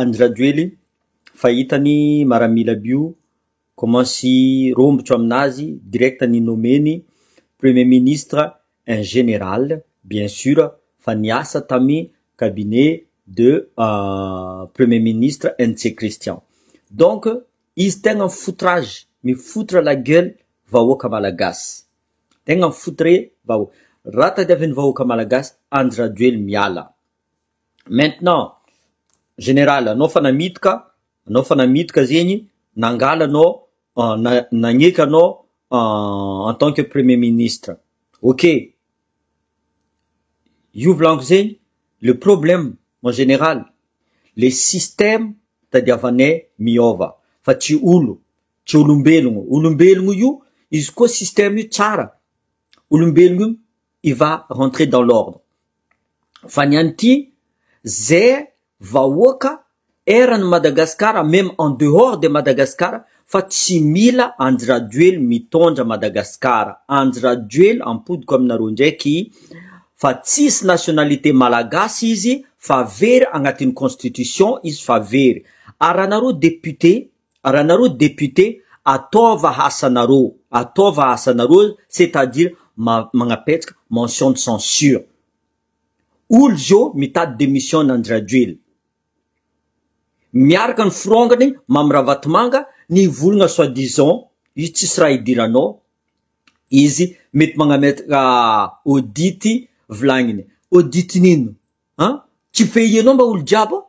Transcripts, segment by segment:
Andry Rajoely fa hitany maramila bio comment sy rombotro aminazy direct ny nomeny premier ministre en general bien sur fa niasa tamy cabinet de premier ministre Ntsé Christian donc izy tegna foutrage mifoutre la gueule vahoaka malagasy tegna mifoutre vahoaka raha tadiavin'ny vahoaka malagasy Andry Rajoely miala Maintenant général anao fa namidika anao fa namidika zegny nangala anao na- nagneky anao en tant que premier ministre ok, io volaniko zegny le problème en général le système tadiavanay miôva fa tsy olo tsy olombelogno, olombelogno io izy koa système io tsara olombelogno io il va rentrer dans l'ordre fa ny an'ity ze vahoaka eran'i Madagasikara meme en dehors de Madagasikara fa tsy mila Andry Rajoely mitondra Madagasikara, Andry Rajoely ampodiko aminareo ndraiky fa tsisy nationalité malagasy izy fa very agnatin'ny constitution izy fa very ary raha nareo député Raha nareo député ataova asanareo, ataova asanareo c'est à dire magnapetraka mention de censure. Olo zô mitady démission an-dRajoel. Miaraka ny firongany Mamy Ravatomanga nivolagna soit disant izy tsisy raha idiranao izy mety magnametraka audit vilagniny. Audit nino an? Tsy pays anao mba olo jiaby ao?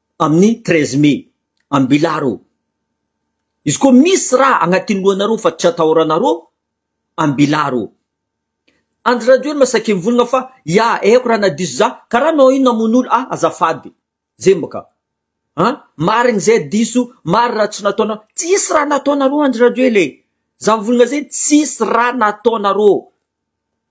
amin'ny treize mai, ambilaro, izy koa misy raha agnatin'ny lohanareo fa tsy atahoranareo, ambilaro. Andry Rajoelina saika mivolagna fa ya haiko raha nadiso za, karaha anao io namono olo, ah azafady, zay mba ka, ah marigny zay diso, marigny raha tsy nataonareo, tsisy raha nataonareo Andry Rajoela e, za mivolagna zegny tsisy raha nataonareo.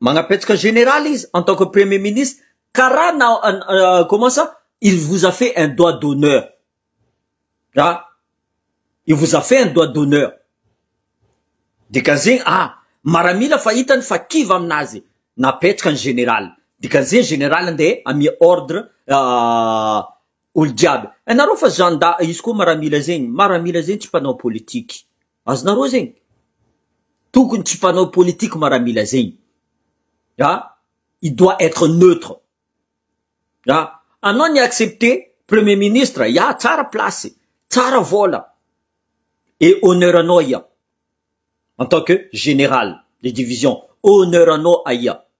Magnapetsaka général izy en tant que premier ministre karaha na comment ça il vous a fait un doigt d'honneur ah il vous a fait un doigt d'honneur dikan'izegny ah maramila fa hitany fa kivy aminazy napetraka ny général dikan'izegny général ande amia ordre olo jiaby nareo fa zanda izy koa maramila zegny maramila zegny tsy mpanao politique. Azonareo zegny? Tokony tsy mpanao politique maramila zegny ah, il doit être neutre ah, anao ni accepter premier ministre ya tsara place, tsara vola et honneur anao ya en tant que général de division, honneur anao aia.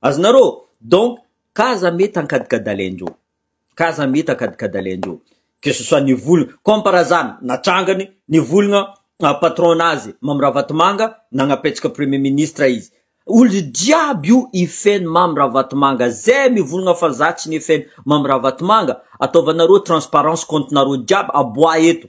Azonareo? Donc, ka aza mety hankadikadalain-dreo. Ka aza mety hankadikadalain-dreo. Que ce soit ny volana, comme par hasard, natrangany ny volana ah, patron-nazy, Mamy Ravatomanga, nagnapetsaka Premier Ministre izy. Olo jiaby io hifehy Mamy Ravatomanga. Zay mivolagna fa za tsy nifehy Mamy Ravatomanga, ataovanareo transparence compte-nareo jiaby, aboaha eto.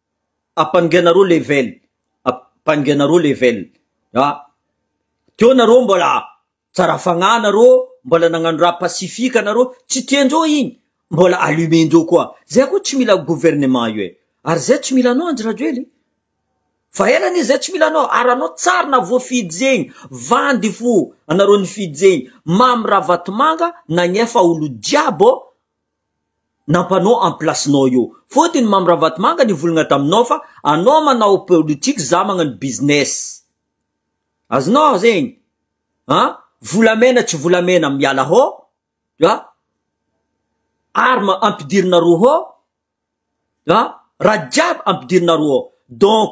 Ampangena roa level, ampangena roa level ah, teo nareo mbola tsara fagnahy nareo, mbola nagnano raha pacifique nareo, tsy tiandreo igny mbola allumer-ndreo koa, zay koa tsy mila gouvernement io e, ary zay tsy mila anao Andry Rajoely, fa ela anie zay tsy mila anao, ary anao tsara na voafidy zegny, vandy fo anareo nifidy zegny, Mamy Ravatomanga nagnefa olo jiaby ô, nampanao en place nao io fotiny Mamy Ravatomanga nivolagna taminao fa anao manao politique za magnano business azonao zegny a volamena tsy volamena miala hô a arme ampidirina roa hô a raha jiaby ampidirina roa donc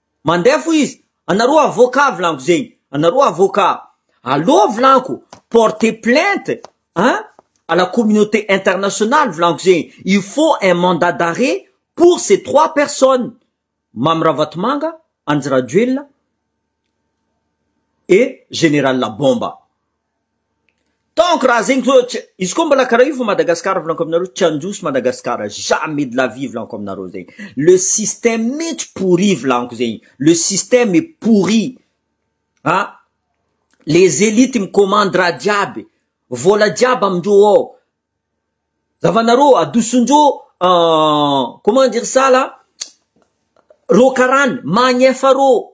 Mandeha fo izy, anareo avocat vilanko zegny, anareo avocat aleo vilanko porter plainte a à la communauté internationale vilanko zegny, il faut un mandat d'arret pour ces trois personnes, Mamy Ravatomanga, Andry Rajoelina et Général Bomba. Donc raha zegny zao tsy izy koa mbola karaha io fa Madagascar volaniko aminareo tsy handroso Madagascar jamais de la vie volaniko aminareo zegny le système mintsy pourri volaniko zegny le système est pourri a les élites mi commande raha jiaby vola jiaby amindreo ao zavanareo adosondreo comment dire ça là reo karany magnefa reo.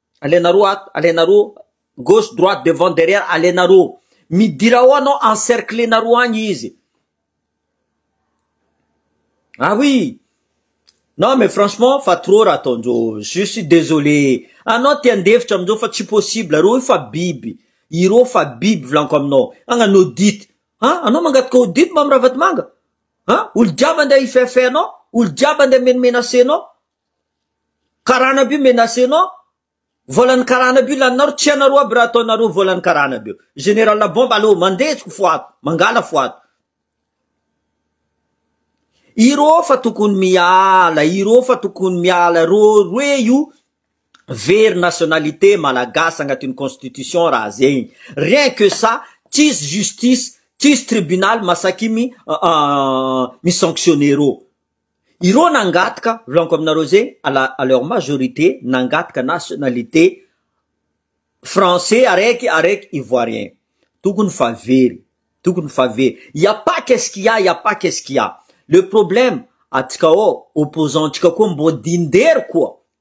Alena roa ato, alena roa, gauche, droite, devant, derrière, alena roa. Midira ao anao, encerclena roa agny izy. Ah oui! Non mais franchement fa trop raha ataonjao, je suis désolé. Anao te handefitra aminjao fa tsy possible, reo io fa biby, ireo fa biby volaniko aminao. Agnano audit, ah anao mangataka audit Mamy Ravatomanga? Ah olo jiaby andeha hi-fait-fait anao, olo jiaby andeha menomenacer anao, Karana aby io menace nao volan'ny karana aby io laninareo tsy anareo aby raha ataonareo volan'ny karana aby io general la bomba aleo mandehiko foato mangala foato ireo fa tokony miala ireo fa tokony miala reo roe io very nationalité malagasy agnatin'ny constitution raha zegny rien que ça tsisy justice tsisy tribunal masakimy mi sanctionne reo Ireo nangataka, volaniko aminareo zegny, à la, à leur majorité, nangataka nationalité français araiky, araiky ivoirien. Tokony fa very, tokony fa very. Il y a pas qu'est-ce qu'il y a, il y a pas qu'est-ce qu'il y a. Le problème, atsika ao, opposants-ntsika koa mbô dindery koa.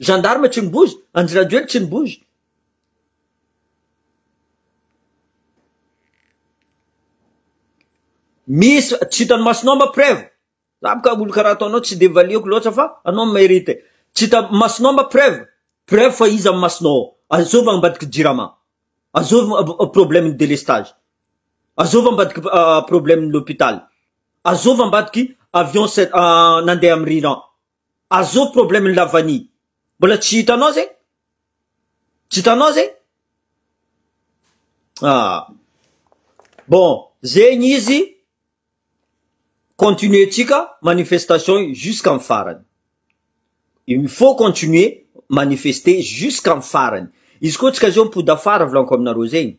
Gendarme tsy mibozy, Andry Rajoely tsy mibozy. Misy tsy hitan'ny masonao mba preuve. Za boka olo karaha ataonao tsy de valiako loatra fa anao mérite. Tsy hita masonao mba preuve. Preuve fa iza amin'ny masonao. Azova ambadiky jirama. Azova problème ny délestage. Azova ambadiky problème ny hôpital. Azova ambadiky avion nandeha amin'ny riran. Azoo problème ny lavani mbola tsy hitanao zegny? Tsy hitanao zegny? Ah. Bon, zegny izy continuer tsika manifestation jusqu'à am farany. Il faut continuer manifester jusqu'à am farany. Izy koa tsika zao mipody afara volaniko aminareo zegny.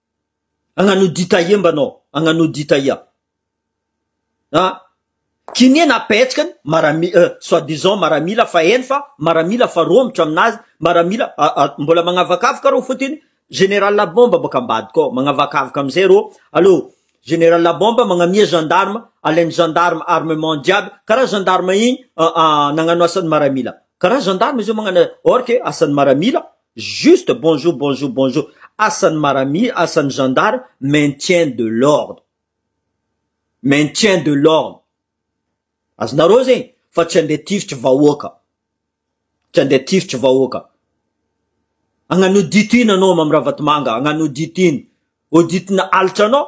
Agnano audit aia mba anao? Agnano audit aia? A! Kinia na petsika ny marami- euh, soit disant maramila fa hainy fa maramila fa romotra aminazy, maramila a- a- mbola magnavakavaka reo fotiny, Général Bomba bôka ambadika ao, magnavakavaka amizay reo, allo, Général Bomba magnamia gendarme, alainy gendarme armement jiaby, karaha gendarme igny a- a- nagnano asan'ny maramila, karaha gendarme izy io magnano or que asan'ny maramila, Juste bonjour bonjour bonjour asan'ny maramila asan'ny gendarme maintien de l'ordre maintien de l'ordre azonareo zegny fa tsy andeha tifitry vahoaka tsy andeha tifitry vahoaka agnano audit ino anao mam ravatomanga agnano audit ino audit na alitra anao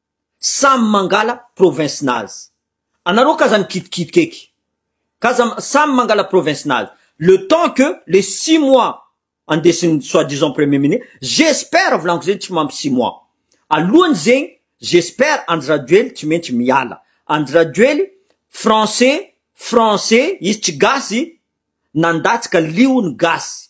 Samy mangala province nazy. Anareo k'aza mikitikitika eky. K'aza samy mangala province nazy. Le temps que le six mois andesin'ny soit disant premier minis, j'espère volanko zay tsy mampy six mois. Alohany zegny j'espère Andry Rajoely tsy maintsy miala. Andry Rajoely français français izy tsy gasy nandatsaka liony gasy.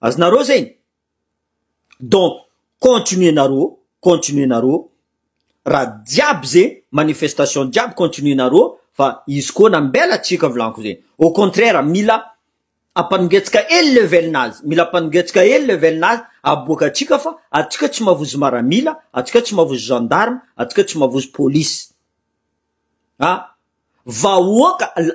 Azonareo zegny? Donc continuer-nareo, continuer-nareo, raha jiaby ze manifestation jiaby continuer-nareo fa izy koa nambela tsika volagniky zegny, au contraire mila ampanongetsaka hely level-nazy, mila ampanongetsaka hely level-nazy aboaka atsika fa atsika tsy mavozo maramila, atsika tsy mavozo gendarme, atsika tsy mavozo police, ah vahoaka la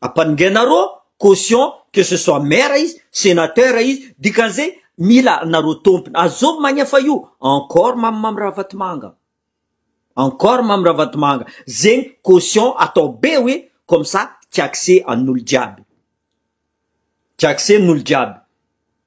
Ampanongainareo caution que ce soit maire izy, senateur izy, dikan'izay mila anareo tompony. Azovy mania fa io encore mamimamy ravatomanga. Encore mamy ravatomanga. Zegny caution atao be hoe comme ça tsy accès an'olo jiaby. Tsy accès n'olo jiaby.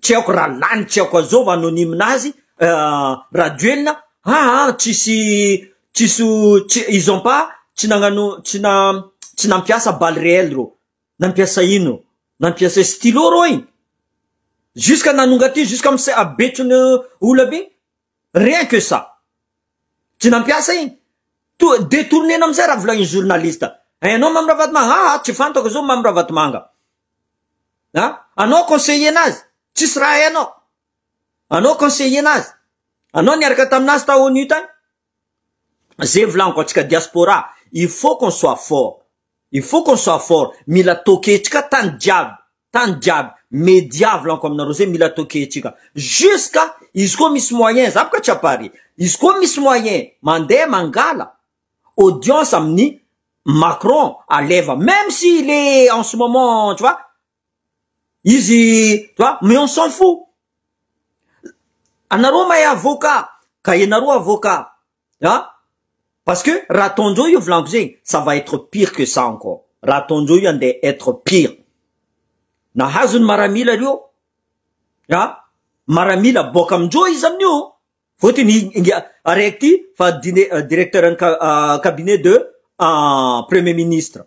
tsy aiko raha lany tsy aiko azov anonyme azy rajoelina aa tsisy tsisy tsy ils ont pas tsy nagnano tsy na tsy nampiasa balle reelle reo nampiasa ino reo nampiasa stylo reo e jusque nanonga ty jusque am se- betso ny ola be Rien que ça. Tsy nampiasa iny. Toa detourner-na amin'izay raha volanin'ny journaliste. Ianao Mamy Ravatomanga, ha ha, tsy fantako izao Mamy Ravatomanga. Ha? Anao conseiller anazy, tsisy raha hainao. Anao conseiller anazy. Anao niaraka taminazy tao ONU tany. Zay volaniko antsika diaspora, il faut qu'on soit fort. Il faut qu'on soit fort. Mila tokentsika tany jiaby. Tany jiaby me diavlanko aminareo zay mila atao kehitrika jusqu'à izy koa misy moyen za boka tsy apare izy koa misy moyen mandeha mangala audience amin'ny Macron aleva même si il est en ce moment tu vois izy tu vois mais on s'en fou anareo mahay avocat ka ianareo avocat an! parce que raha ataon'ireo io volany fizeny ça va etre pire que ça encore, raha ataon'ireo io andeha etre pire, nahazo ny maramila ireo an! maramila boaka amindreo izy amin'io vote ny inga araiky ty fa dine directeur ny cabinet de premier ministre.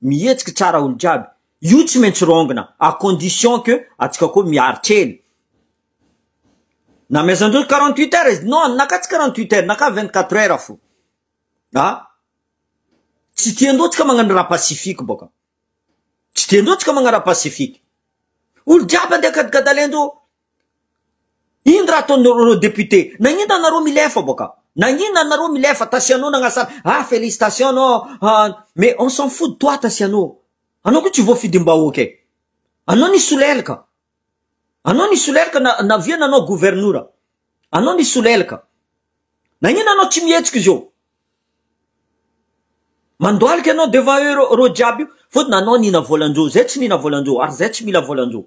Mihetsiky tsara olo jiaby. Io tsy maintsy rongina à condition que atsika koa miary kely. Namezandrozy quarante huit heures izy. Non, naka tsy quarante huit heures, naka vingt quatre heures fo. A! Tsy tiandreo atsika magnano raha pacifique bôka. Tsy tiandreo atsika magnano raha pacifique. Olo jiaby andeha kadigadalendreo. Ino raha ataonareo député? Nagnina nareo milefa boka? Nagnina nareo milefa Tasiano nagnasana ah félicitation anao ah mais on s'en fout de toi Tasiano anao ko tsy voafidim-bahoaka e anao nisolelaka anao nisolelaka na navia nanao governora anao nisolelaka nagnina anao tsy mihetsika zao mandoalika anao devant eo reo jiaby io fotony anao nihina volan-jo zay tsy nihina volan-jo ary zay tsy mila volan-jo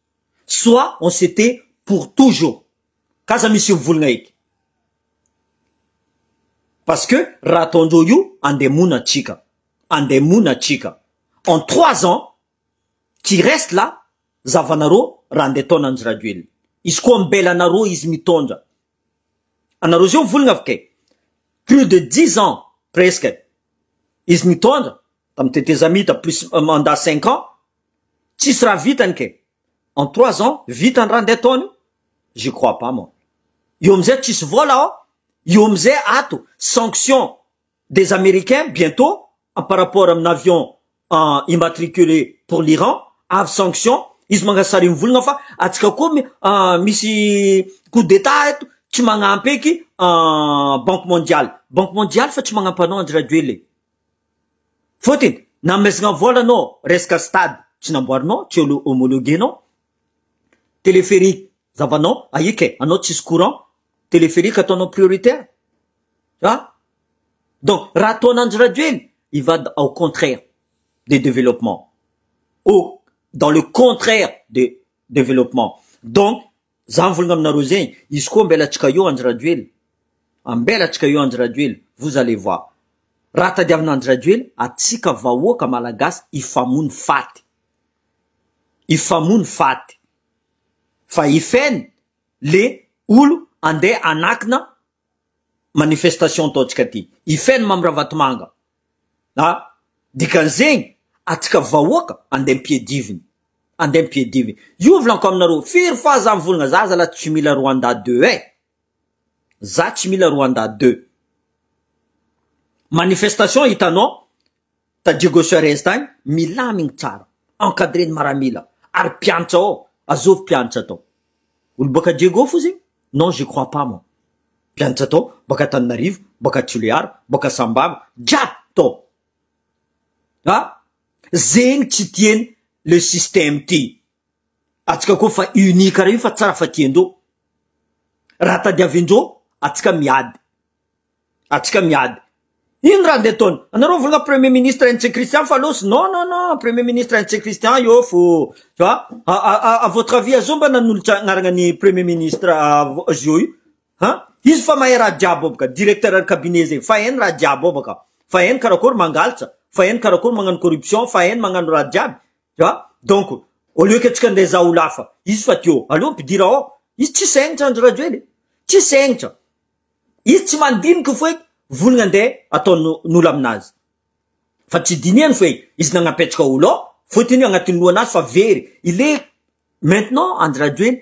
soit on s'était pour toujours ka aza misy mivolgna eky parce que raha ataondreo io andeha mona atsika andeha mona atsika en trois ans qui reste là zavanareo raha andeha ataon anjy rajoelina izy koa mbela anareo izy mitondra anareo zeo mivolgna avy kay plus de dix ans presque izy nitondra tam tetezamita plus mandat cinq ans Tsisy raha vitany kay. En trois ans vita ny raha ndeha ataony io? J'y crois pas moi. Io amizay tsisy vola ao, io amizay ato sanction des americains bientot en par rapport amina avion immatricule pour l'Iran avy sanction izy mangasa sary mivolagna fa atsika koa misy coup d'etat eto tsy magnampy eky banque mondiale, banque mondiale fa tsy magnampy anao Andry Rajoelina e. Fotiny, namesagna vola anao resaka stade tsy namboarinao, tsy homologuenao, téléphérique zavanao aia ke anao tsisy courant, téléphérique ataonao prioritaire a! Donc raha ataon' Andry Rajoelina il va au contraire de développement, au dans le contraire de développement donc Za mivolagna aminareo zay izy koa ambelatsika eo Andry Rajoelina ambelatsika eo Andry Rajoelina vous allez voir raha tadiavina Andry Rajoelina atsika vahoaka malagasy hifamono faty hifamono faty fa i Fn le olo andeha anakina manifestation ataontsika ty i feno mam ravatomanga a dikan'zegny atsika vahoaka andeha ampiadiviny andeha ampiadiviny io volanko aminareo firy fa za mivolagna za zala tsy mila rwanda deux e za tsy mila rwanda deux manifestation hitanao ta Diego Suarez tany, milamigny tsara, encadreny maramila, ary mpiantra ao, azovy mpiantra tao. Olo baka Diego fo zegny? Non je crois pas moi. Mpianatra tao, baka Tananarivo, baka Toliara, baka Sambava, jiaby tao. Ha? Zegny tsy tieny le système ty. Atsika koa fa unis kara io fa tsara fa tiendreo. Raha tadiavindreo, atsika miady. atsika miady. Ino raha ndeha ataony? Anareo mivolagna premier ministre Hence Christian fa losy? Non non non premier ministre Hence Christian io fo tu vois a a a à votre avis azoo mba nanolotra agnaragna ny premier ministre azoo io ha izy fa mahay raha jiaby ao baka directeur de cabinet zegny fa hainy raha jiaby ao baka fa hainy karakory mangalitsa fa hainy karakory magnano corruption fa hainy magnano raha jiaby tu vois donc au lieu que atsika ndeha hizaha olo hafa izy fa teo aleo ampidira ao izy tsy saigny zany ry Rajoely tsy saigny zany Izy tsy mandiniky foe volgna nde atao nolo aminazy fa tsy dinihany foe izy nagnapetraka olo ao fotiny agnatiny lohanazy fa very il est maintenant Andry Rajoely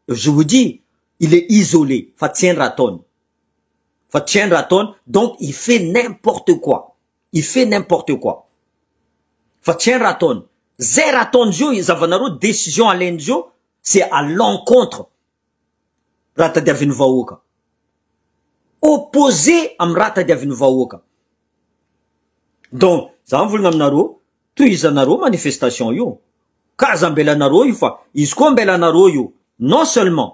je vous dis il est isolé fa tsy hainy raha ataony fa tsy hainy raha ataony donc il fait n'importe quoi il fait n'importe quoi fa tsy hainy raha ataony zay raha ataon'izy io zavanareo decision alain'izy io c'est à l'encontre raha tadiavin'ny vahoaka. Opposé amin'ny raha tadiavin'ny vahoaka. Donc, za mivolagna aminareo, tohizanareo io manifestation io. Ka aza ambelanareo io fa izy koa ambelanareo io. Non seulement,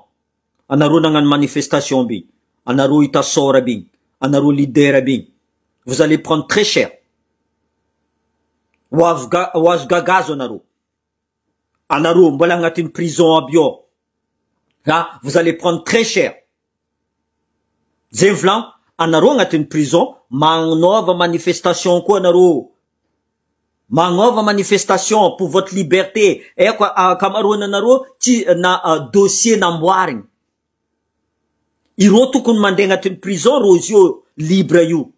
anareo nagnano manifestation be, anareo hita sôra be, anareo leader be, vous allez prendre très cher. Ho azo ga- ho azo gagazo anareo. Anareo mbola agnatin'ny prison aby eo ha vous allez prendre très cher zay ny volagno anareo agnatin'ny prison magnaova manifestation koa anareo magnaova manifestation pour votre liberté eo ka ankamaroany anareo tsy na dossier namboarigny ireo tokony mandeha agnatin'ny prison rozy eo libre io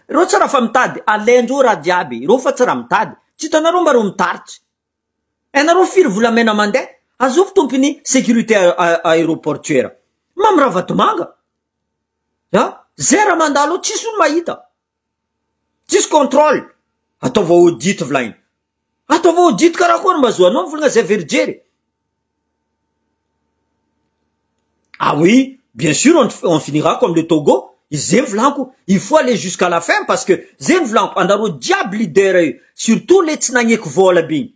Ireo tsy raha fa mitady alain-jo raha jiaby ireo fa tsy raha mitady, tsy hitanareo mba ireo mitaritry? Hainareo firy volamena mandeha? Azovy tompony sécurité aéroportuaire, Mamy Ravatomanga, ah, zay raha mandalo ao tsisy olo mahita. Tsisy contrôle. Ataovy audit volaina. Ataovy audit karakory mba azoanao ny volana zay verijery e. Ah oui, bien sûr on, on finira comme le Togo, izay ny volanko, il faut aller jusqu'à la fin parce que zay ny volanko, anareo jiaby leader io, surtout le tsy nagneky vola be iny,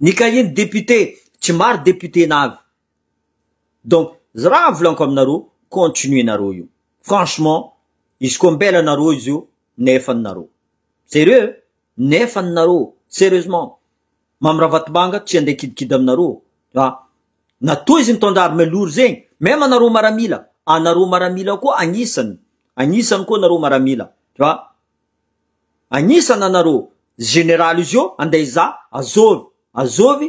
Ny cahier-ny député tsy maro député navy donc raha volaniko aminareo continuer nareo io franchement izy koa mbela nareo izy io nefany nareo serieux nefany nareo serieusement Mamy Ravatomanga tsy handeha kidikidy aminareo fa na toa izy mitondra arme lourd zegny meme anareo maramila anareo maramila koa agnisany agnisany koa nareo maramila fa Agnisany anareo général izy io andeha hizaha Azovy Azovy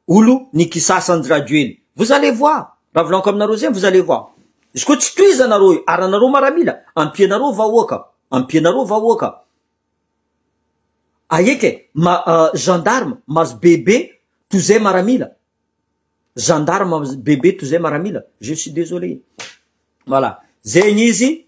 olo ny kisasa anjy Rajoely vous allez voir raha volaniko aminareo zegny vous allez voir izy koa tsy tohizanareo io ary anareo maramila ampianareo vahoaka ampianareo vahoaka ahiaka e ma gendarme mazo bebe toy zay maramila gendarme mazo bebe toy zay maramila je suis désolé voilà zegny izy